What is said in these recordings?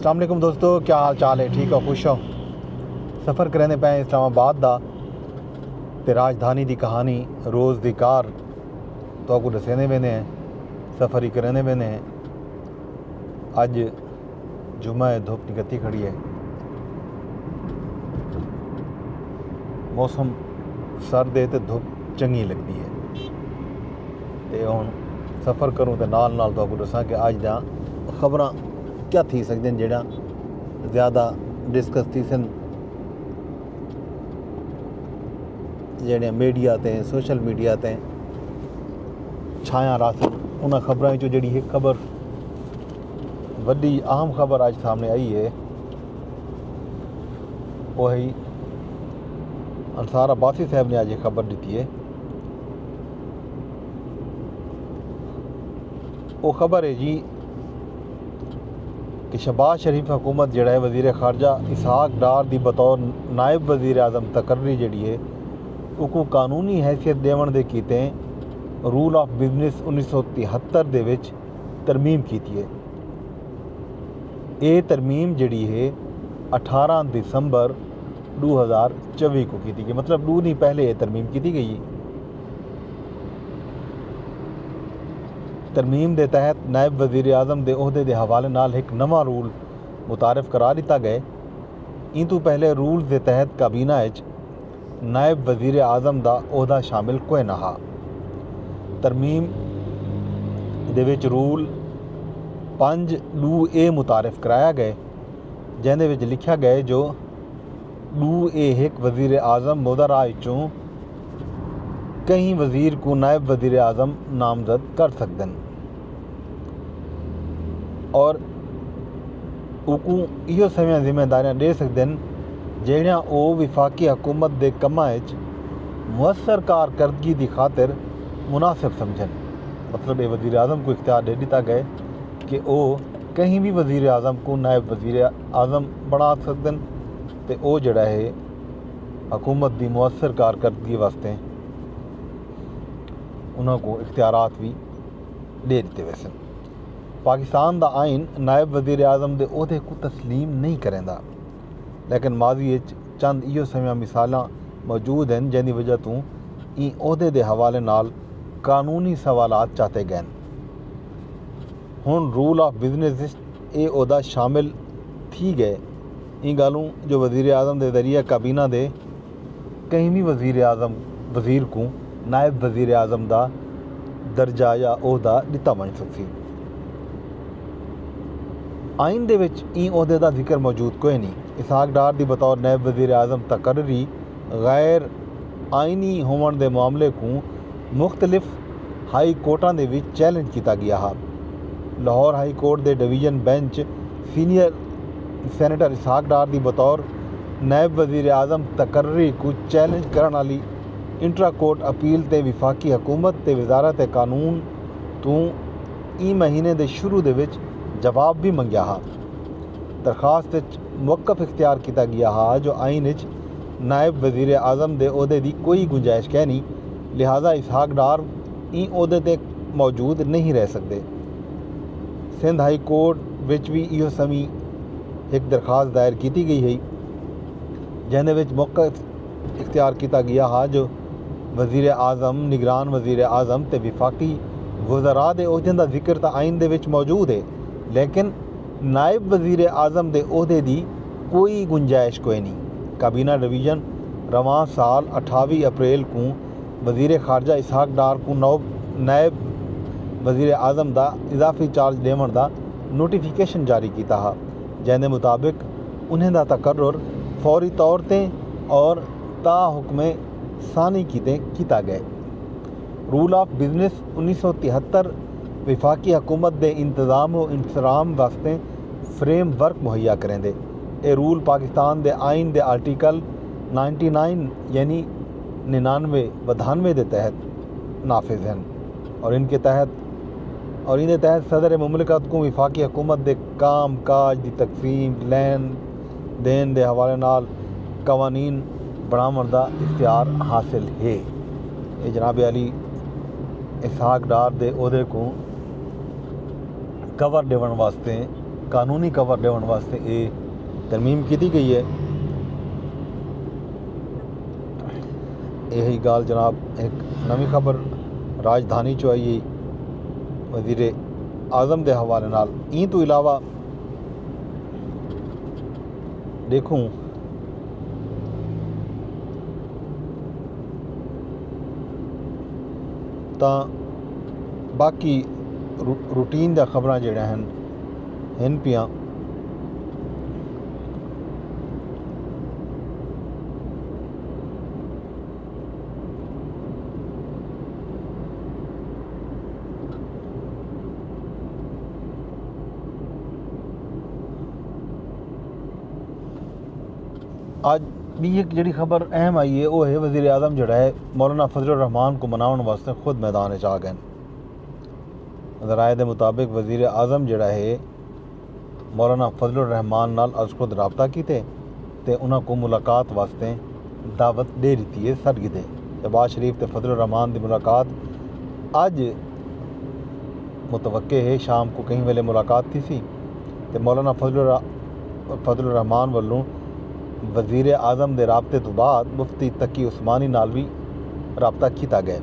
السلام علیکم دوستو کیا حال چال ہے ٹھیک ہو خوش ہو سفر کریندے پے اسلام آباد دا تے راجدھانی دی کہانی روز دی کار تو کو دسیندے ویندے ہیں سفر ہی کریندے ویندے ہیں اج جمعہ ہے دھوپ نکتی کھڑی ہے موسم سرد ہے تے دھوپ چنگی لگدی ہے تے ہن سفر کروں تے نال نال تو کو دساں کہ اج دا خبراں کیا تھی سکدن جیڑھا زیادہ ڈسکس تھیسن جیڑھے میڈیا تے سوشل میڈیا تے چھایاں رہسن انہاں خبراں وچوں جیڑھی ہک خبر وڈی اہم خبر اج سامنے آئی ہے وہ ہے انصار عباسی صاحب نے اج یہ خبر دیتی ہے او خبر اے جی کہ شہباز شریف حکومت جیڑا ہے وزیر خارجہ اسحاق ڈار دی بطور نائب وزیر اعظم تقرری جیڑی ہے اوکوں قانونی حیثیت ڈیون دے کیتے رول آف بزنس انیس سو تہتر دے وچ ترمیم کیتی ہے۔ اے ترمیم جیڑی ہے اٹھارہ دسمبر ڈو ہزار چوی کوں کیتی گئی مطلب ڈو ڈینھ پہلے اے ترمیم کیتی گئی ہے۔ ترمیم دے تحت نائب وزیراعظم دے عہدے دے حوالے نال ہک نواں رول متعارف کرا ݙتا ڳئے۔ ایں توں پہلے رولز دے تحت کابینہ اچ نائب وزیراعظم دا عہدہ شامل کوئ نہ ہا۔ ترمیم دے وچ رول پنج ݙو اے متعارف کرایا ڳئے جیندے وچ لکھیا ڳئے جو ݙو اے ہک وزیراعظم مودارا اچوں کہیں وزیر کوں نائب وزیر اعظم نامزد کر سگدن اور اوکوں ایہو سویاں ذمہ داریاں ڈے سگدن جہڑیاں او وفاقی حکومت دے کماں اچ مؤثر کارکردگی دی خاطر مناسب سمجھن۔ مطلب اے وزیر اعظم کوں اختیار ڈے ڈتا گئے کہ او کہیں وی وزیر اعظم کوں نائب وزیر اعظم بنا سگدن تے او جہڑا ہے حکومت دی مؤثر کارکردگی واسطے انہاں کوں اختیارات وی ݙے ݙتے ویسن۔ پاکستان دا آئین نائب وزیر اعظم دے عہدے کوں تسلیم نہیں کریندا، لیکن ماضی اچ چند ایہو سویاں مثالاں موجود ہن جیندی وجہ توں ایں عہدے دے حوالے نال قانونی سوالات چاتے ڳئن۔ ہݨ رول آف بزنس اچ اے عہدہ شامل تھی ڳئے۔ ایں ڳالھوں جو وزیراعظم دے ذریعہ کابینہ دے کہیں وی وزیراعظم وزیر کوں نائب وزیراعظم دا درجہ یا عہدہ ݙتا ونڄ سڳسی۔ آئین دے وچ ایں عہدے دا ذکر موجود کوئنی۔ اسحاق ڈار دی بطور نائب وزیراعظم تقرری غیر آئینی ہووݨ دے معاملے کوں مختلف ہائی کورٹاں دے وچ چیلنج کیتا ڳیا ہا۔ لاہور ہائی کورٹ دے division bench senior senator Ishaq Dar دی بطور نائب وزیراعظم تقرری کوں چیلنج کرݨ آلی انٹرا کورٹ اپیل تے وفاقی حکومت تے وزارت قانون توں ایں مہینے دے شروع دے وچ جواب وی منگیا ہا۔ درخواست اچ موقف اختیار کیتا ڳیا ہا جو آئین اچ نائب وزیراعظم دے عہدے دی کوئی گنجائش کینی، لہذا اسحاق ڈار ایں عہدے تے موجود نئیں رہ سگدے۔ سندھ ہائی کورٹ وچ وی ایہو سویں ہک درخواست دائر کیتی گئی ہئی جیندے وچ موقع اختیار کیتا گیا ہا جو وزیر اعظم، نگران وزیر اعظم تے وفاقی وزراء دے عہدیاں دا ذکر تاں آئین دے وچ موجود ہے لیکن نائب وزیر اعظم دے عہدے دی کوئی گنجائش کوئنی، کابینہ ڈویژن رواں سال اٹھاوی اپریل کوں وزیر خارجہ اسحاق ڈار کوں نائب وزیراعظم دا اضافی چارج ڈیونڑ دا نوٹیفکیشن جاری کیتا ہا جیندے مطابق انہیں دا تقرر فوری طور تے اور تا حکم ثانی کیتے کیتا گئے۔ رول آف بزنس انیس سو تہتر وفاقی حکومت دے انتظام و انصرام واسطے فریم ورک مہیا کریندے۔ اے رول پاکستان دے آئین دے آرٹیکل نائنٹی نائن یعنی ننانوے ودھانوے دے تحت نافذ ہن اور ان کے تحت اور ایندے تحت صدر مملکت کوں وفاقی حکومت دے کام کاج دی تقسیم، لین دین دے حوالے نال قوانین بنڑاونڑ دا اختیار حاصل ہے۔ اے جناب عالی اسحاق ڈار دے عہدے کوں۔ کور ڈیون واسطے قانونی کور ڈیون واسطے اے ترمیم کیتی گئی ہے یہی گال جناب ایک نوی خبر راجدھانی چو آئی وزیر اعظم دے حوالے نال این تو علاوہ دیکھوں تاں باقی روٹین دا خبراں جیڑھیاں ہن ہن پیاں اج ڈی ایک جیڑھی خبر اہم آئی ہے وہ ہے وزیراعظم جیڑھا ہے مولانا فضل الرحمان کوں مناونڑ واسطے خود میدان اچ آ گئن۔ ذرائع دے مطابق وزیر اعظم جیڑھا ہے مولانا فضل الرحمان نال از خود رابطہ کیتے تے انہاں کوں ملاقات واسطے دعوت ڈے ڈتی ہے، سڈ گھدے۔ شہباز شریف تے فضل الرحمان دی ملاقات اج متوقع ہے، شام کوں کہیں ویلے ملاقات تھیسی تے مولانا فضل الرحمان ولوں وزیر اعظم دے رابطے توں بعد مفتی تقی عثمانی نال وی رابطہ کیتا ڳئے۔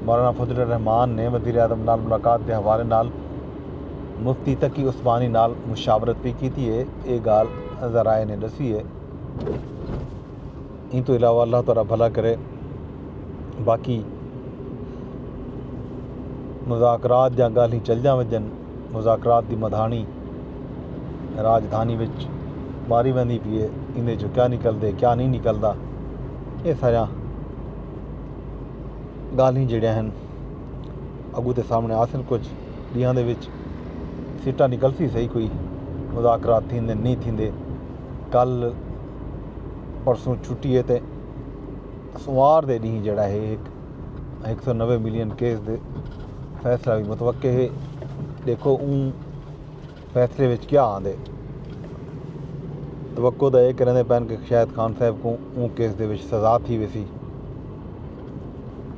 مولانا فضل الرحمان نے وزیر اعظم نال ملاقات دے حوالے نال مفتی تقی عثمانی نال مشاورت وی کیتی اے، اے ڳالھ ذرائع نے ݙسی اے۔ ایں توں علاوہ اللہ تہاݙا بھلا کرے باقی مذاکرات یا ڳالھیں چلدیاں وڄن۔ مذاکرات دی مدھاݨی راجدھانی وچ ماری ویندی پی اے ایندے چوں کیا نکلدے کیا نہیں نکلدا اے ساریاں ڳالھیں جیڑھیاں ہن اگو تے سامنے آسن کچھ ڈیاں دے وچ سٹا نکلسی صحیح کوئی مذاکرات تھیندے نہیں تھیندے کل پرسوں چھٹی ہے تے سوار دے ڈینہہ جیڑھا ہے ایک ہک سو نوے ملین کیس دے فیصلہ بھی متوقع ہے دیکھو اون فیصلے وچ کیا آندے توقع دا یہ کرنے پین کہ شاید خان صاحب کو اون کیس دے وچ سزا تھی ویسی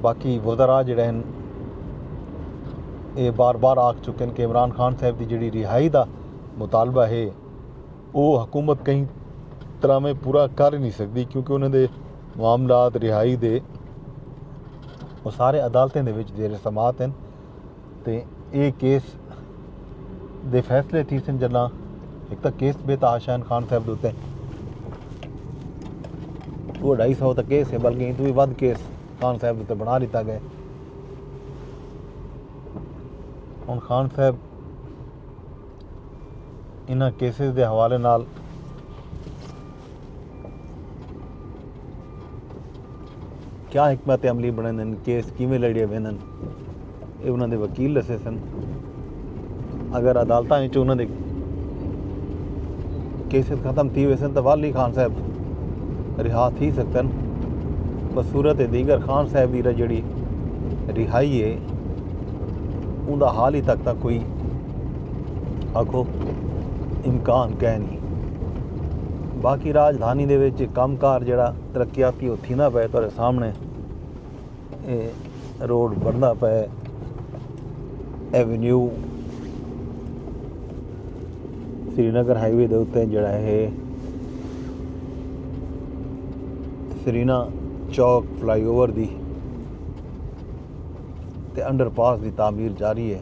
باقی وزراء جڑے ہیں اے بار بار آکھ چکے ہیں کہ عمران خان صاحب دی جڑی رہائی دا مطالبہ ہے او حکومت کہیں طراویں پورا کر نی سگدی کیونکہ انہاں دے معاملات رہائی دے او سارے عدالتیں دے وچ زیر سماعت ہن تے اے کیس دے فیصلے تھیسن جڈاں ہک تاں کیس بے تحاشین خان صاحب دے اتے دو ڈھائی سو تک کیس ہے بلکہ ہندو ود کیس خان صاحب تے بنا لیتا گئے ہن خان صاحب انہاں کیسز دے حوالے نال کیا حکمت عملی بنڑیندن کیس کیویں لڑیے ویندن اے انہاں دے وکیل دسے سن اگر عدالتاں وچ انہاں دے کیسز ختم تھی ویسن تو والی خان صاحب رہا تھی سکتن پر صورت دیگر خان صاحب دی جڑی رہائی ہے اوندا حال ہی تک تک کوئی آکھو امکان کائے نہیں باقی راجدھانی دے وچ کم کار جڑا ترقیاتی وہ تھی نہ پائے تو سامنے روڈ بڑھنا پائے ایونیو سری نگر ہائی وے دے اتنے جڑا ہے Serena Chowk fly over the تے انڈر پاس دی تعمیر جاری ہے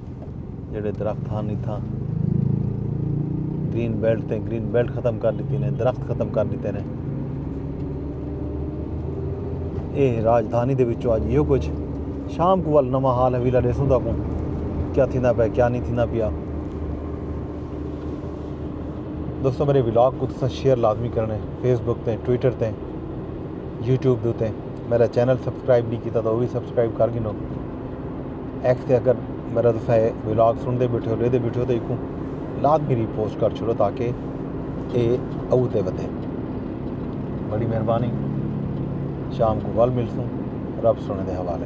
جیڑھے درخت ہن اتھاں گرین بیلٹ تے گرین بیلٹ ختم کر ݙتی نے درخت ختم کر ݙتے نے اے راجدھانی دے وچوں اڄ ایہو کچھ شام کو ول نواں حال حویلا ݙیسوں تاں کو کیا تھیندا پیا کیا نہیں تھیندا پیا دوستو میرے ولاگ کو تساں شیئر لازمی کرنے فیس بک تے ٹویٹر تے یوٹیوب دے تے میرا چینل سبسکرائب نہیں کیتا تو وہ بھی سبسکرائب کر گھنو ایکس تے اگر میرا تساں اے ولاگ سنڑدے بیٹھے ہو ڈیکھدے بیٹھے ہو تے ایکوں لازمی ری پوسٹ کر چھوڑو تاکہ اے او تے ودے بڑی مہربانی شام کو ول ملسوں رب سونے دے حوالے